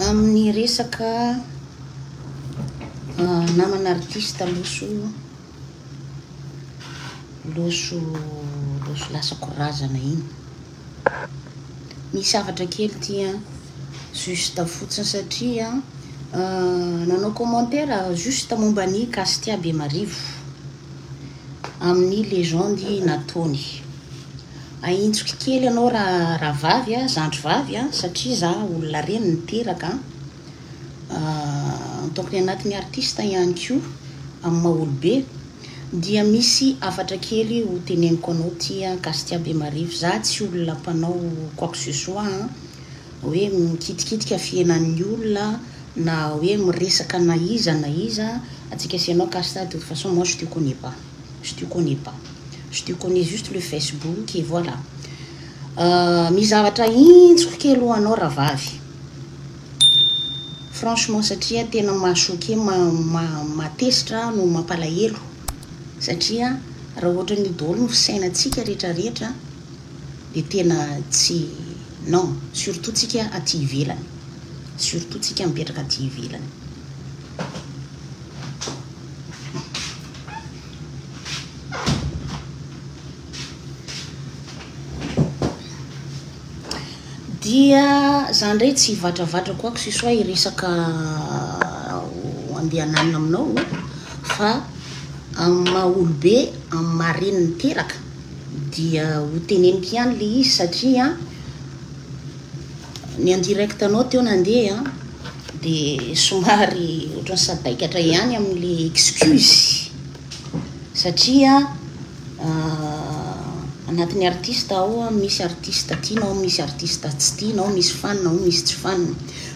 Amin'ny resaka namana artiste loso loso loso lasako razana iny. Misy hafatra kely ity an, juste fotsiny satria nanao commentaire juste momba ny Castia Bemarivo amin'ny legende nataony. Ahintsoky kely anao rahavavy a, zandry vavy a, satria za olona reny niteraka a, en tant que ny anatin'ny artiste ihany koa amin'ny maha olobe dia misy hafatra kely ho teneniko anao ty a, Castia Bemarivo, za tsy olona mpanao quoi que ce soit a, hoe mikitikitika fihenan'ny olona na hoe miresaka na iza na iza, antsika sy ianao Casta de toute façon moi je te connais pas. je te connais pas, je te connais juste le Facebook et voilà Misy zavatra intsoko kely ho anao rahavavy Franchement satria tena maha choqué ma maha tezitra aho no mampalahelo satria raha ohatra an'io daholo ny fisainantsika rehetra rehetra dia tena tsy non surtout tsika aty ivelany surtout tsika mipetraka aty ivelany Dia za ndray tsy hivatravatra quoi que ce soit hiresaka andeha hananina aminao o, fa amin'ny maha olobe, amin'ny maha reny niteraka dia ho teneniko ihany le izy satria ny en direct-nao teo nandeha. Dia somary ohatran'ny sadaikatra ihany amin'le excuse satria anatin'ny artiste ao a, misy artiste tianao, misy artiste tsy tianao, misy fan ao, misy tsy fan.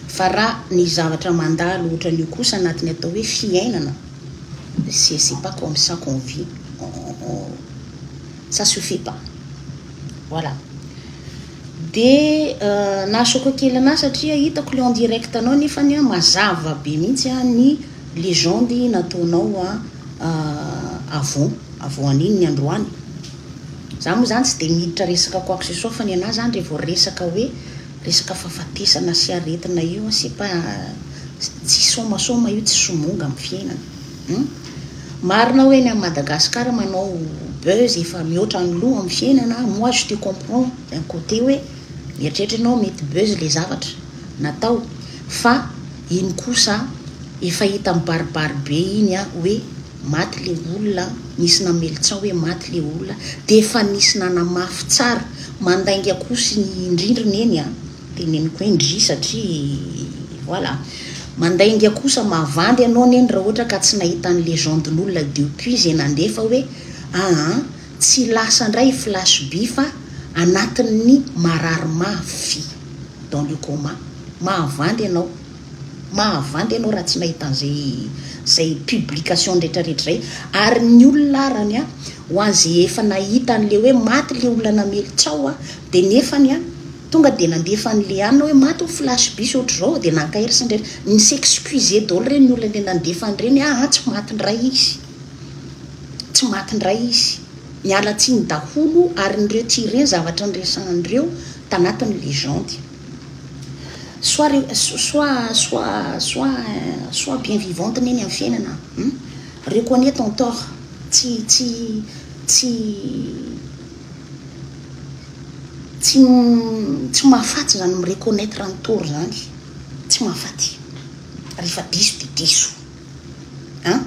Fa raha ny zavatra mandalo ohatran'io kosa anatin'ny atao hoe fiainana, c'est c'est pas comme ça qu'on vit, ça suffit pas. Voilà. Dia na choco kely anah satria hitako le en direct nao nefany an mazava be mihitsy an ny legende nataonao an avant avant an'iny ny androany za moa zany tsy dia miditra resaka quoi que ce soit fa ny anah zany re vao resaka hoe resaka fahafatesana sy aretina io an c'est pas tsy somasoma io tsy somonga am fiainana. Hum. Marina aho eny am Madagascar manao buzz efa mihoatra ny loha am fiainana moi je te comprends d'un côté hoe mieritreritra ianao mety buzz le zavatra natao fa iny kosa efa hita mibaribary be iny an hoe maty le olona nisy namelitsao hoe maty le olona de efa nisy nanamafy tsara mandainga kosa ny rindrina eny an. Teneniko hoe ndry satria voilà. Mandainga kosa mavandy anao neny raha ohatra ka tsy nahita ny legenden'olona depuis izay nandeha fa hoe aa tsy lasa indray i flash by fa anatin'ny marary mafy dans le coma. Mahavandy ianao. Mahavandy ianao raha tsy nahita an'izay izay publication retraretra izay. Ary ny olona arany a ho an'izay efa nahita an'ilay hoe maty ilay olona namely tsaho a dia nefany a. Tonga dia nandefa an'i Leana hoe maty ho flash bus ohatr'izao dia naka ery sy ny rehetra. Ni s'excuser daholo ireny ny olona le nandefa an'ireny aa tsy maty ndray izy. Tsy maty ndray izy. Miala tsiny daholo ary ny reo tia ireny zavatra niresahany reo tanatin'ny legende. Soit reo soit soit soit soit bien vivante neny amin'ny fiainana an. Reconnais ton tort. Tsy tsy tsy. Tsy tsy mahafaty zany mi reconnaitre an'i Tory zany tsy mahafaty rehefa diso de diso a!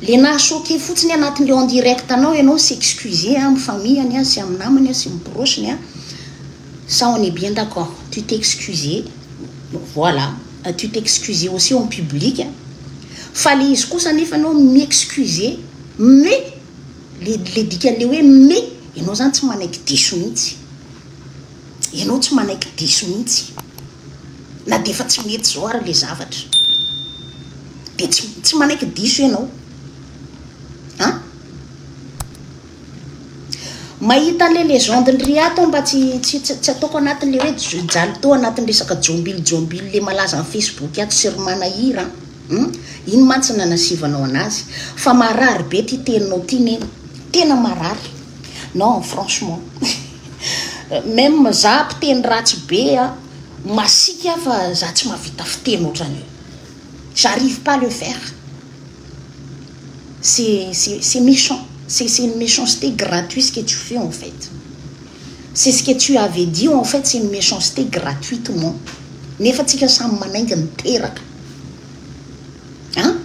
Le naha choquer fotsiny anatin'le en direct anao ianao s'excuser amin'ny famille-ny a sy amin'ny namany a sy ny proche-ny a! ça on est bien d'accord tu t'excuser voilà tu t'excuser aussi en public fa le izy kosa nefa ianao mi-excuser mais. Le le dikan'le hoe me ianao zany tsy manaiky diso mihitsy. Ianao tsy manaiky diso mihitsy. Na dia efa tsy mety zao ary le zavatra. De tsy tsy manaiky diso ianao. An! Mahita an'le legende ny Riato aho mba tsy tsy tsy ataoko anatin'le hoe jali to anatin'ny resaka jombilijombilile malaza amin'ny Facebook ato sy ry manahira an! Hum, ino mantsy ny nanasivanao anazy? Fa marary be ty teninao ty neny, tena marary, non franchement meme za mpiteny ratsy be a, masiaka aho fa za tsy mahavita fiteny otran'io, j'arrive pas le faire, c'est c'est méchant, c'est c'est une méchanceté gratuit ce que tu fais en fait, c'est ce que tu avais dit en fait c'est une méchanceté gratuitement, nefa tsika samy manainga miteraka. An!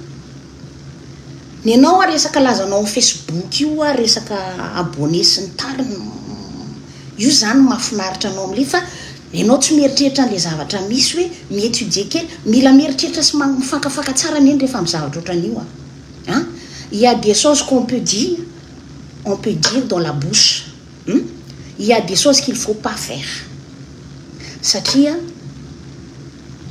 Ny anao ary resaka lazanao am facebook io ary resaka abonné sy ny tariny Io zany no mahafinaritra anao am le fa enao tsy mieritreritra anle zavatra misy hoe mi étudier kely Mila mieritreritra sy mifankafaka tsara anie rehefa am zavatra otran'io an! An! Il ya des choses qu'on peut dire on peut dire dans la bouche. Hum? Il y a des choses qu'il faut pas faire satria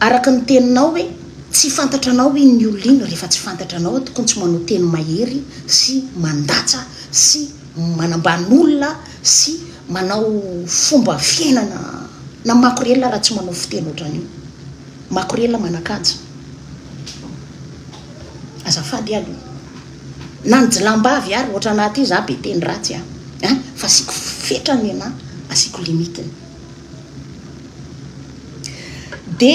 araka ny teninao hoe tsy fantatra anao iny ny olona iny rehefa tsy fantatra anao tokony tsy manao teny mahery sy mandatsa sy manambany olona sy manao fomba fiainana na makorelina raha tsy manao fiteny ohatran'io makorelina manakanja azafady aloha Na ny jilambavy ary ohatrana ty za be teny ratsy a hein fa asiako fetra ny anah asiako limite ny. De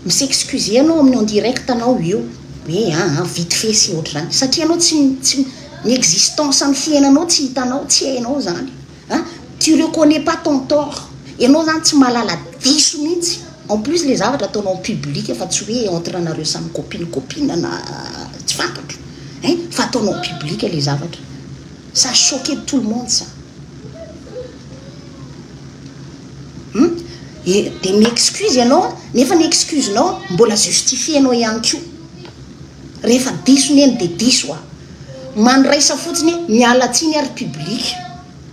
mi s'excuser anao amin'ny en direct anao eo hoe aa vite fait sy ohatr'izany satria anao tsy tsy ny existence an'ny fiainanao tsy hitanao tsy hainao zany An! tu reconnais pas ton tort, ianao izany tsy mahalala diso mihitsy, en plus ilay zavatra ataonao en public fa tsy hoe entre anareo samy copine copine na tsy fantatro ein! fa ataonao en public ilay zavatra, ça a choqué tout le monde ça! hum! et dia mi-excuse ianao nefa ny excuse-nao mbola justifier-nao ihany koa, rehefa diso neny dia diso a! Mandraisa fotsiny miala tsiny ary public,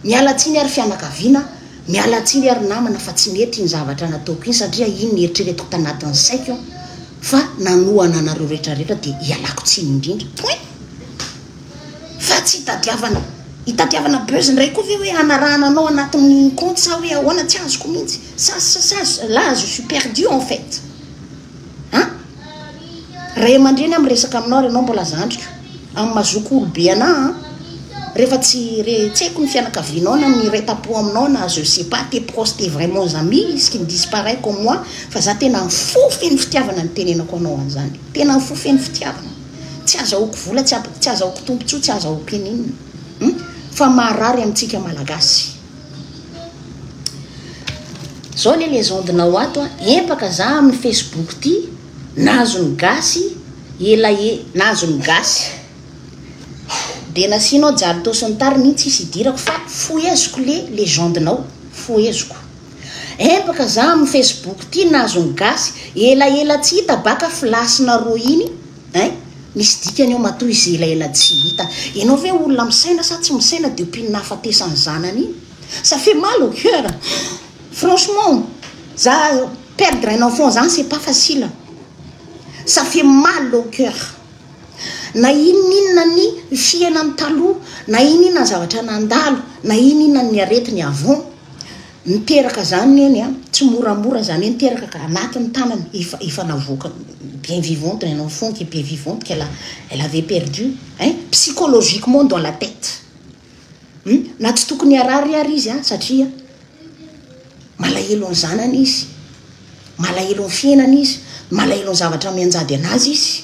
miala tsiny ary fianakaviana, miala tsiny ary namana fa tsy nety iny zavatra nataoko iny satria iny ny eritreretiko tanatin'ny saiko fa nanohana anareo rehetra rehetra dia ialako tsiny indrindra point fa tsy itadiavana itadiavana buzz indray koa ve hoe hanarahana anao anatin'ny compte sa hoe ahoana tsy azoko mihitsy sa sa la je suis perdu en fait an Ray aman-dreny aho miresaka aminao ary ianao mbola zandriko. Amin'ny maha zoky olobe anà an! Rehefa tsy re tseko ny fianakavianao na ny iray tam-po aminao na je sais pas tes proches tes vraiment amis ce qui ne disent pas rien comme moi fa za tena ny fo feno fitiavana no itenenako anao an'izany. Tena ny fo feno fitiavana. Tsy azahoako vola tsy azahoako tombontsoa tsy azahoako ininona. Fa maharary amintsika malagasy. Zao le legende nao ato a, empaka za amin'ny Facebook ty, nahazo ny gasy, ela e, nahazo ny gasy. De nasianao jalto sy ny tariny iny tsisy idirako fa foheziko le legende nao, foheziko. Empaka za amin'ny Facebook ty, nahazo ny gasy, ela ela tsy hita baka flash-na roa iny, Hein? Misy dikany ao matoa izy elaela tsy hita. Ianao ve olona misaina sa tsy misaina dia mpino nahafatesan'ny zanany iny? Ça fait mal au coeur. Franchement, za perdre un enfant zany c'est pas facile. Ça fait mal au coeur. Na inoninona ny fiainany taloha, na inoninona ny zavatra nandalo, na inoninona ny aretiny avant. Niteraka izany neny a, tsy moramora izany hoe niteraka ka anaty ny tanany efa efa navoaka bien vivante un enfant qui bien vivante qu'elle a elle avait perdu hein psychologiquement dans la tête hum na tsy tokony harary ary izy a satria malahelo ny zanany izy malahelo ny fiainana izy malahelo ny zavatra mianjady anazy izy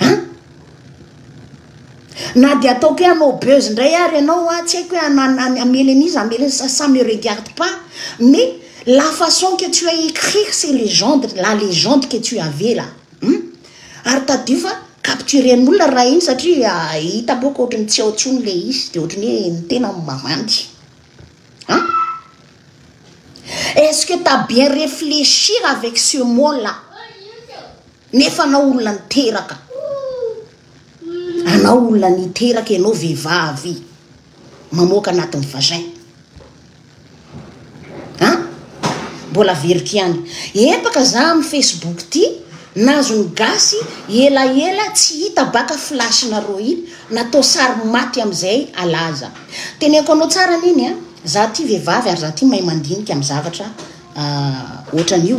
An! Na dia ataoko hoe hanao buzz indray ary ianao an, tsy haiko hoe han hamely an'iza hamely an'iza sa ça me regarde pas mais la façon que tu as écrit ces légendes, la légende que tu avais là hum ary tadidio fa capturen'olona raha iny satria hitako hoe ohatry ny tsy ao intsony ilay izy dia ohatry ny hoe ny tena no mavandy an! Est-ce que tu as bien réfléchir avec ce mot là? Nefa anao olona niteraka, anao olona niteraka ianao vehivavy mamoaka anatin'ny vagin a! Mbola averiko ihany, empaka za amin'ny Facebook ity, nazon'ny gasy elaela tsy hita baka flash-nareo iny, natao sary maty amin'izay alaza. Teneniko anao tsara anie ny a, za ity vehivavy ary za ity mahay mandinika amin'ny zavatra ohatran'io.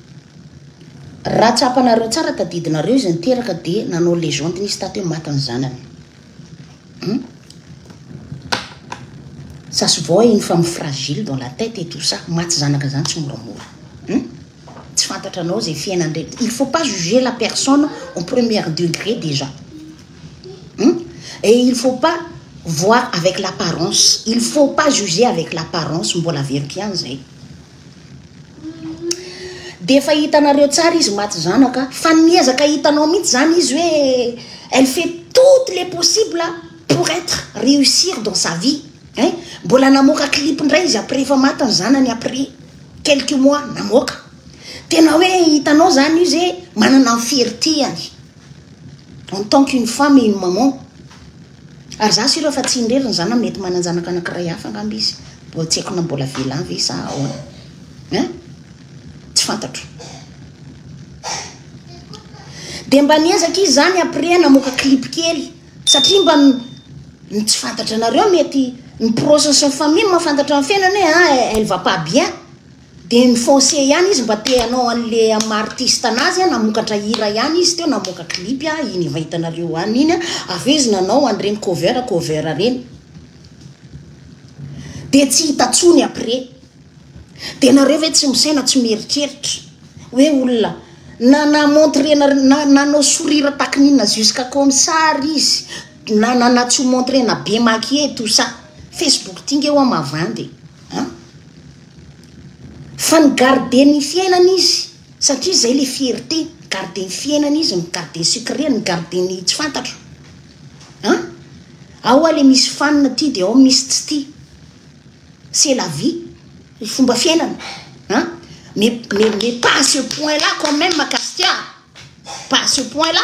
Raha tsapanareo tsara tadidinareo izy niteraka de nanao legende nisy tato hoe maty ny zanany hum ça se voit une femme fragile dans la tête et tout ça maty zanaka zany tsy moramora hum tsy fantatra anao zay fiainany reny il faut pas juger la personne en première degré déjà hum et il faut pas voir avec l'apparence il faut pas juger avec l'apparence mbola averiko ihany zay Dia efa hitanareo tsara izy maty zanaka fa ny miezaka hitanao mihitsy zany izy hoe elle fait toutes les possibles pour être réussir dans sa vie hein mbola namoaka clip indray izy après efa maty ny zanany après quelques mois namoaka tena hoe hitanao zany izy hoe manana ny fierté-any en tant qu'une femme et une maman Ary za sy ireo fa tsy indrindra ny zanany mety mananjanaka anakiray hafa angamba izy mbola tsy haiko na mbola velany ve sa ahoana hein tsy fantatro de mba niezaka izy zany après namoaka clip kely satria mba ny tsy fantatra anareo mety ny proche sy ny famille mahafantatra ny fiainana hoe ah elle va pas bien Dia ny foncier ihany izy mba te hanao an'le amin'ny maha artiste anazy a, namokatra hira ihany izy teo, namoaka clip a, iny efa hitanareo any iny a, avy eo izy nanao an'ireny cover cover ireny. Dia tsy hita intsony après. Dia nareo ve tsy misaina, tsy mieritreritra hoe olona na na montrer na na nanao sourire takin'inona jusqu'à comme ça ary izy, na na na tsy ho montrer na be maquiller tout ça. Facebook ty nge hoa mavandy e, an. Fa ny garde ny fiainana izy satria izay ilay fierté, garde ny fiainana izy ny garde secret ny garde ny tsy fantatro an! Ao ilay misy fan tia dia ao misy tsy tia, c'est la vie, fomba fiainana an! Mais, mais, mais pas à ce point là quand même Castia a! Pas à ce point là!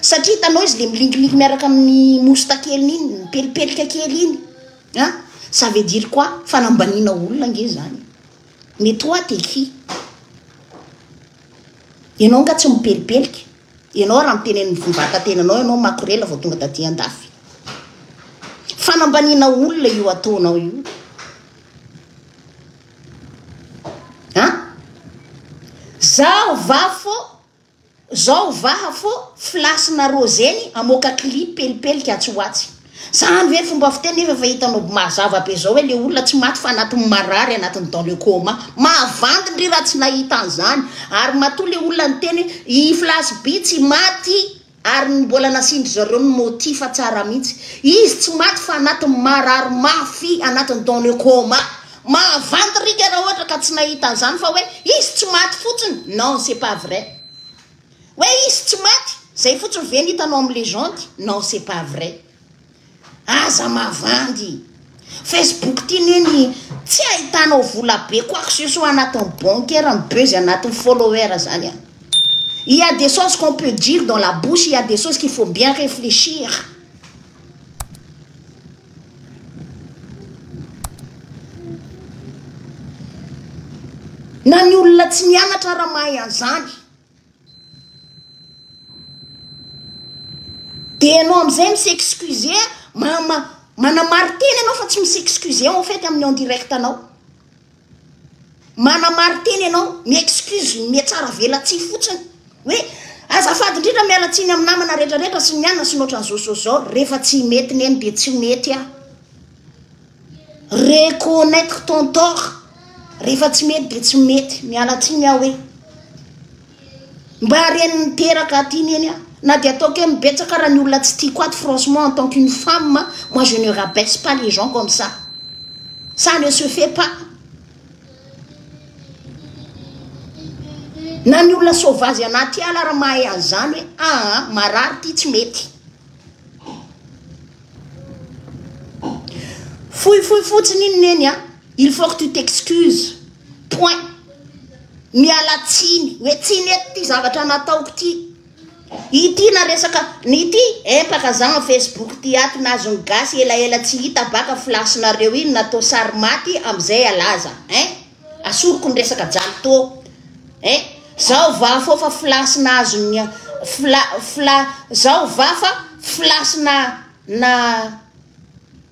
Satria hitanao izy le milingilingy miaraka amin'ny mousta keliny iny, mipelipelika kely iny a, ça veut dire quoi? Fanambaniana olona ange zany. Mais toi t'es qui? Ianao nga tsy mipelipelika? Ianao raha miteneny ny vatatenanao ianao makorela vao tonga taty andafy. Fanambaniana olona io ataonao io. Zaho vafo Zao vaha fô flasy na roseny amoaka clip pelipelika atsy ho atsy. Zany ve fomba fiteny nefa efa hitanao by mazava be zao hoe le olona tsy maty fa anatin'ny marary anatin'ny dans le coma. Mahavandy ndry raha tsy nahita an'zany ary matoa le olona niteny hoe i flasy by tsy maty ary ny mbola nasiandry zareo ny motif tsara mintsy. Izy tsy maty fa anatin'ny marary mafy anatin'ny dans le coma. Mahavanty rika raha ohatra ka tsy nahita an'izany fa hoe izy tsy maty fotsiny non c'est pas vrai hoe izy tsy maty zay fotsiny ve ny hitanao amin'ny legende non c'est pas vrai aza mavandy Facebook ty neny tsy ahitanao vola be quoi que ce soit anatin'ny bancaire ny buzz anatin'ny follower zany an il y a des choses qu'on peut dire dans la bouche il y a des choses qu'il faut bien réfléchir Na ny olona tsy nianatra ara mahay an'izany. De ianao amin'izay mi s'excuser ma- ma- manamarin-tena ianao fa tsy mi s'excuser en fait amin'ny en direct-nao. Manamarin-tena ianao, mi-excuse, mihatsara velatsihy fotsiny hoe azafady indrindra miala tsiny amin'ny namana rehetra rehetra sy ny anona sy ny ohatran'izao sy ohatran'izao rehefa tsy mety neny dia tsy mety aho. Reconnaitre ton tort. Rehefa tsy mety dia tsy mety. Miala tsiny aho hoe. Mba reny miteraka aty neny a! Na dia ataoko hoe mibetsaka ara ny olona tsy tiako ato franchement en tant qu'une femme a, moi je ne rabaisse pas les gens comme ça. Ça ne se fait pas. Na ny olona sauvage anaty ala ara mahay an'izany hoe aa marary ity tsy mety. Fohifohy fotsiny iny neny a! Il faut que tu t'excuses. Point. Miala tsiny. Hoe tsiny eto ity zavatra nataoko ity. Ity na resaka ity empaka za en Facebook ity ato na azon'ny gasy elaela tsy hita baka flash nareo iny natao sary maty amizay alaza hein. Asoriko ny resaka jaly to hein. Zao va fo fa flash na azon'ny fla fla zao va fa flash na na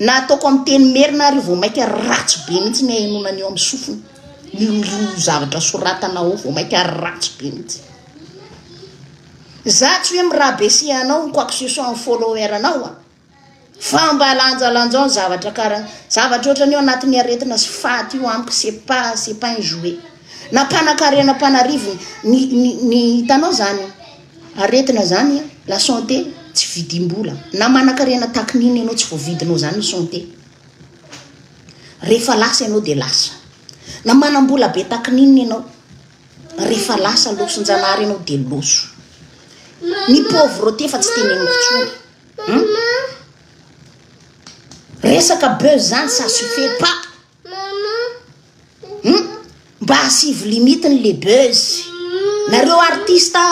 Na ataoko amin'ny teny merina ary vao mainka ratsy be mihitsy ny ahenoana ny eo amin'ny sofina. Ny roa zavatra soratana ao vao mainka ratsy be mihitsy. Za tsy hoe mirabesia anao ny quoi que ce soit amin'ny follower anao a. Fa mba lanjalanjao ny zavatra kara zavatra ohatran'io anatin'ny aretina sy faty io amiko c'est pas c'est pas un jouet. Na mpanakarena mpanarivony ny ny ny hitanao zany. Aretina zany la santé tsy vidim-bola na manakarena tahaky ny inona ianao tsy voavidinao zany ny santé rehefa lasa ianao dia lasa na manam-bola be tahaky ny inona ianao rehefa lasa loson-janahary ianao dia loso ny pauvreté fa tsy teneniko tsony hmm? resaka buzz zany ça suffit pas Hum mba asivo limite ny le buzz nareo artiste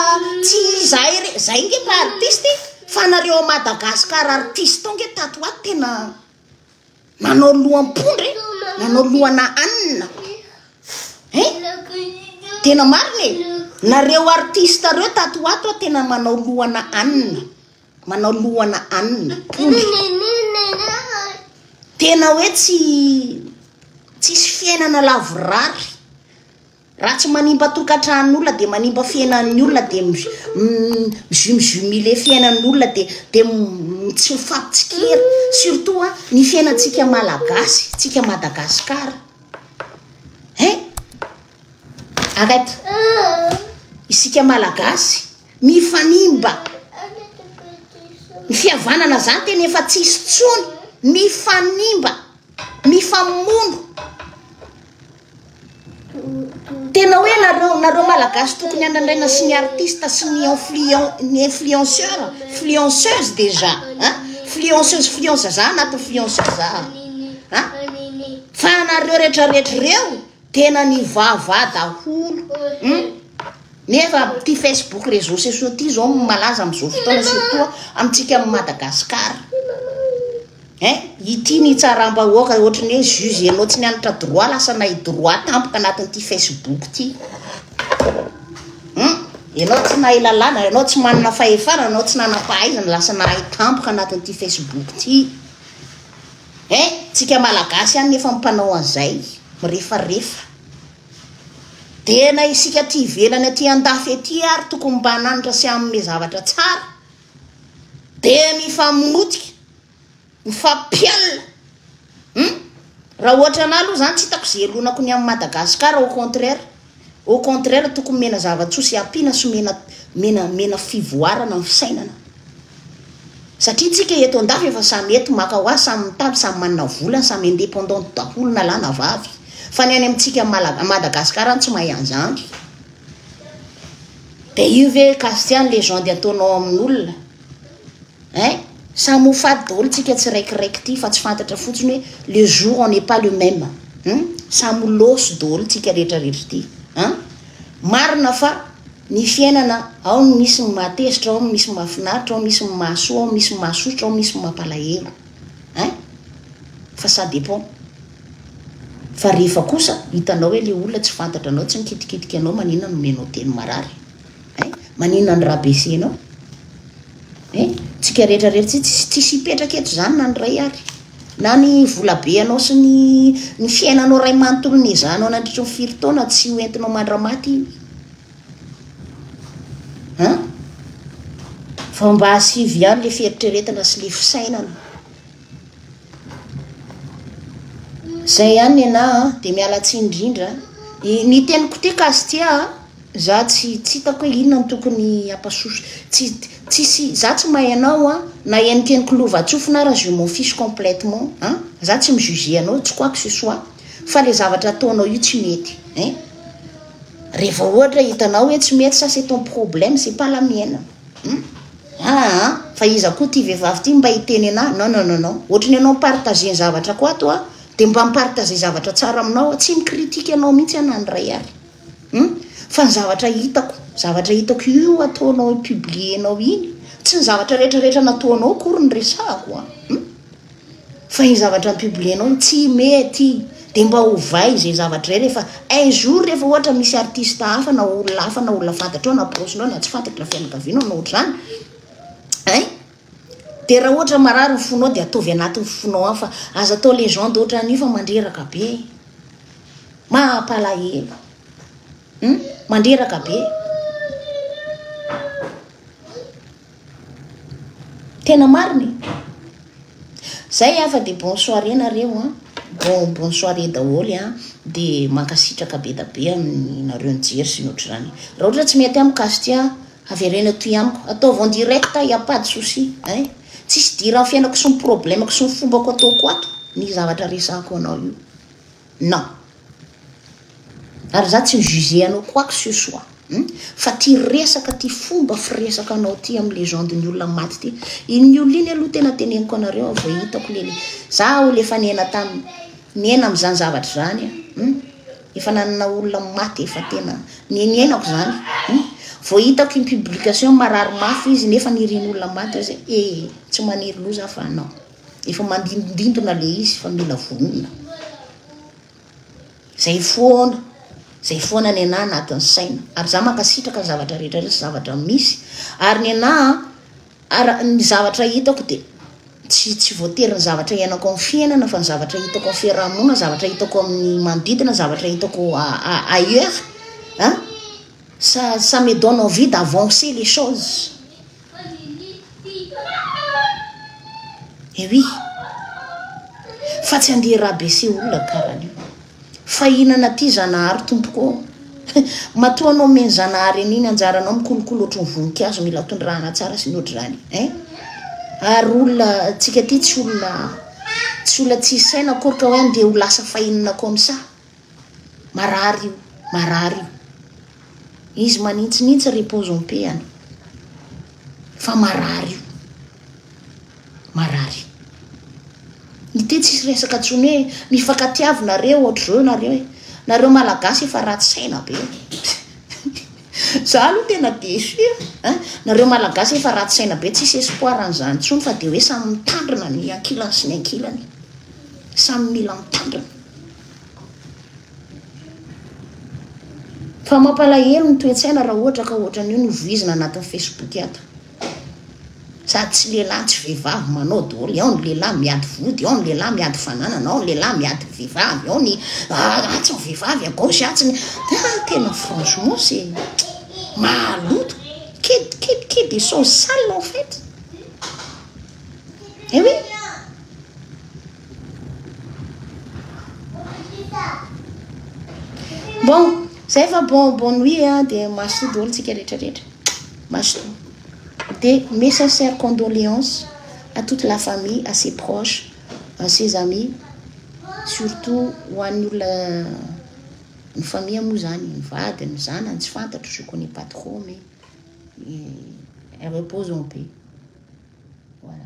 tsy izahay re zahay nge mba artiste fa nareo à Madagascar artiste ao nge tato ho ato tena nanao loham-pondra e nanao lohana anina eh tena marina e nareo artiste reo tato ho ato tena manao lohana anina Manao lohana ann mpomby. Tena hoe tsy tsisy fiainana lavorary. Raha tsy manimba tokantranon'olona dia manimba fiainan'ny olona dia mizumizumile fiainan'ny olona dia dia tsy mifampitsikera. Surtout a ny fiainantsika malagasy, tsika Madagasikara. Hein? Arrête. Isika malagasy Mifanimba ny fihavanana zany tena efa tsisy tsony, mifanimba, mifamono. Tena hoe nareo nareo malagasy tokony anandraina sy ny artiste sy ny influent ny influenceur, influenceuse déjà, hein? Influenceuse influence za anaty influence za. Hein? Fa anareo rehetra rehetra reo Tena nivava daholo hum nefa ty Facebook réseaux sociaux ty zao malaza amizao fotoana surtout amintsika am Madagascar eh ity nitsaram-bahoaka ohatry ny hoe juge ianao tsy nianatra droit lasa nahi droit tampoka anatin'ity Facebook ty hum ianao tsy nahay lalàna ianao tsy manana fahefana ianao tsy nanam-pahaizana lasa nahay tampoka anatin'ity Facebook ty Eh! Tsika malagasy ihany nefa mpanao an'izay, mirefarefa. Dia na isika aty ivelany aty andafy aty ary tokony mba hananatra sy hanome zavatra tsara, dia mifamonotika, mifampialona. Hum! Raha ohatra anah aloha zany tsy hitako ze elonako ny amin'i Madagascar au contraire. Au contraire tokony omena zava-tsoa sy ampiana sy omena omena omena fivoarana ny fisainana. Satria tsika eto an-dafy efa samy eto maka ho azy samy mitady samy manana vola samy independante daholo na lahy na vavy fa ny any amintsika Malaga- Madagascar any tsy mahay an'zany. Dia io ve Castian legende ataonao amin'olona. Hein? Samy ho faty daholo tsika tsiraikiraiky ity fa tsy fantatra fotsiny hoe le jour on n'est pas le même. Hum? Samy ho loso daholo tsika rehetra rehetra ity. Hein? Marina fa ny fiainana ao ny misy ny mahatezitra, ao ny misy ny mahafinaritra, ao ny misy ny mahasoa, ao ny misy ny mahasosotra, ao ny misy ny mampalahelo. Hein? Fa ça dépend. Fa rehefa kosa hitanao hoe le olona tsy fantatra anao, tsy mikitikitika anao, maninona no omenao teny marary? Hein? Maninona ny rà baissenao? Hein? Tsika rehetra rery tsy tsisy tsisy hipetraka eto zany na ny ray ary. Na ny volabe anao sy ny ny fiainanao ray manontolo nezahanao nandritry ny firy taona tsy ho entinao mandramaty iny. Hein? Fa mba asivy ihany le fieritreretana sy le fisainana. Zay ihany nenah a, dia miala tsiny indrindra a. Ny teniko ity Castia a, za tsy tsy hitako hoe inona no tokony ampasoso, tsy tsisy, za tsy mahay anao a, na henokenoky lovantsofina ara je m'en fiche complètement an, za tsy mi-juger anao tsy quoi que ce soit, fa le zavatra ataonao io tsy mety ein, revao ohatra hitanao hoe tsy mety sa c'est ton problème, c'est pas la mienne. Hum aa fa iza koa ity vehivavy ity mba hiteny anah non non non non ohatry ny anao mi-partager ny zavatra ko ato a de mba mi-partager zavatra tsara aminao a tsy mi-critique anao mihitsy a na indray ary hum fa ny zavatra hitako zavatra hitako io ataonao publier nao iny tsy ny zavatra rehetra rehetra nataonao akory ny resahako a hum Fa iny zavatra ampibolenao iny tsy mety iny de mba ovay izay zavatra izay rehefa un jour rehefa ohatra misy artiste hafa na olona hafa na olona fantatrao na proche-nao na tsy fantatry ny fianakavianao na ohatr'izany ein de raha ohatra marary ny fonao de ataovy anatin'ny fonao any fa aza atao legende ohatran'io fa mandreraka be e mampalahelo hum mandreraka be. Tena marina e! Zay an fa dia bonne soirée nareo an, bon bonne soirée daholo an, dia mankasitraka be da be amin'ny nareo nijery sy ny ohatr'izany, raha ohatra tsy mety amiko Casty an, avereno atoy amiko, ataovy en direct il n'y a pas de souci ein, tsisy idiran'ny fiainako sy ny problemako sy ny fombako ataoko ato ny zavatra resahako anao io. Non. Ary za tsy mi juger anao quoi que ce soit hum. Fa ty resaka ty fomba firesaka anao ty am legende ny olona maty ty. Iny olona iny aloha tena teneniko anareo a vao hitako le le. Za olo efa niaina tam niaina am zany zavatra zany a hum. Efa nanana olona maty efa tena ni niainako zany hum. Vao hitako im publication marary mafy izy nefa nirian'olona maty eo zay ee. Tsy maniry loha za fa non. Efa mandindondindona le izy fa mila vonona. Zay foana, zay foana ny anah anatin'ny saina. Ary za mankasitraka ny zavatra rehetra rehetra zavatra misy. Ary ny anah, ary ny zavatra hitako dia tsy tsy voatery ny zavatra iainako amin'ny fiainana fa ny zavatra hitako amin'ny fiarahamonina, zavatra hitako amin'ny manodidina, zavatra hitako ailleurs, hein? Ça ça me donne envie d'avancer les choses. Ewi. Fa tsy andeha rabaisser olona karany io. Fa hihinana aty Zanahary tompoko ô. Matoa anao me ny Zanahary an'iny anjaranao mikolokolo ohatry ny voninkazo mila tondrahana tsara sy ny ohatr'izany. Eh? Ary olona tsika aty tsy olona tsy olona tsy saina akorka hoe andeha ho lasa fahinana comme ça. marary io, marary io. Izy manintsinintsy repose en paix any. Fa marary io. Marary. Ny teny tsisy resaka tsony hoe mifakatiavy nareo ohatr'izao nareo e. Nareo malagasy efa ratsy saina be. Za aloha tena déçu a. Nareo malagasy efa ratsy saina be tsisy espoir an'izany tsony fa dia hoe samy mitandrina ny ankilany sy ny ankilany. Samy mila mitandrina. Fa mampalahelo ny toe-tsaina raha ohatra ka ohatran'io no voizina anatin'ny Facebook ato. Sady tsy lehilahy tsy vehivavy manao dôly, ao ny lehilahy miady vody, ao ny lehilahy miady fananana, ao ny lehilahy miady vehivavy, ao ny ah, atsy ny vehivavy à gauche, atsy ny ah, tena franchement c'est mahaloto. Qui, qui, qui dit choses sales en fait? Eh oui. Bon, zay fa bon bon nuit a dia mazotoa daholo tsika rehetra rehetra. Mazotoa. Dia mes sincères condoléances à toute la famille, à ses proches, à ses amis, surtout ho an'ny olona ny famille moa zany, ny vady, ny zanany, tsy fantatro, je connais pas trop mais eh, repose en paix. Voilà.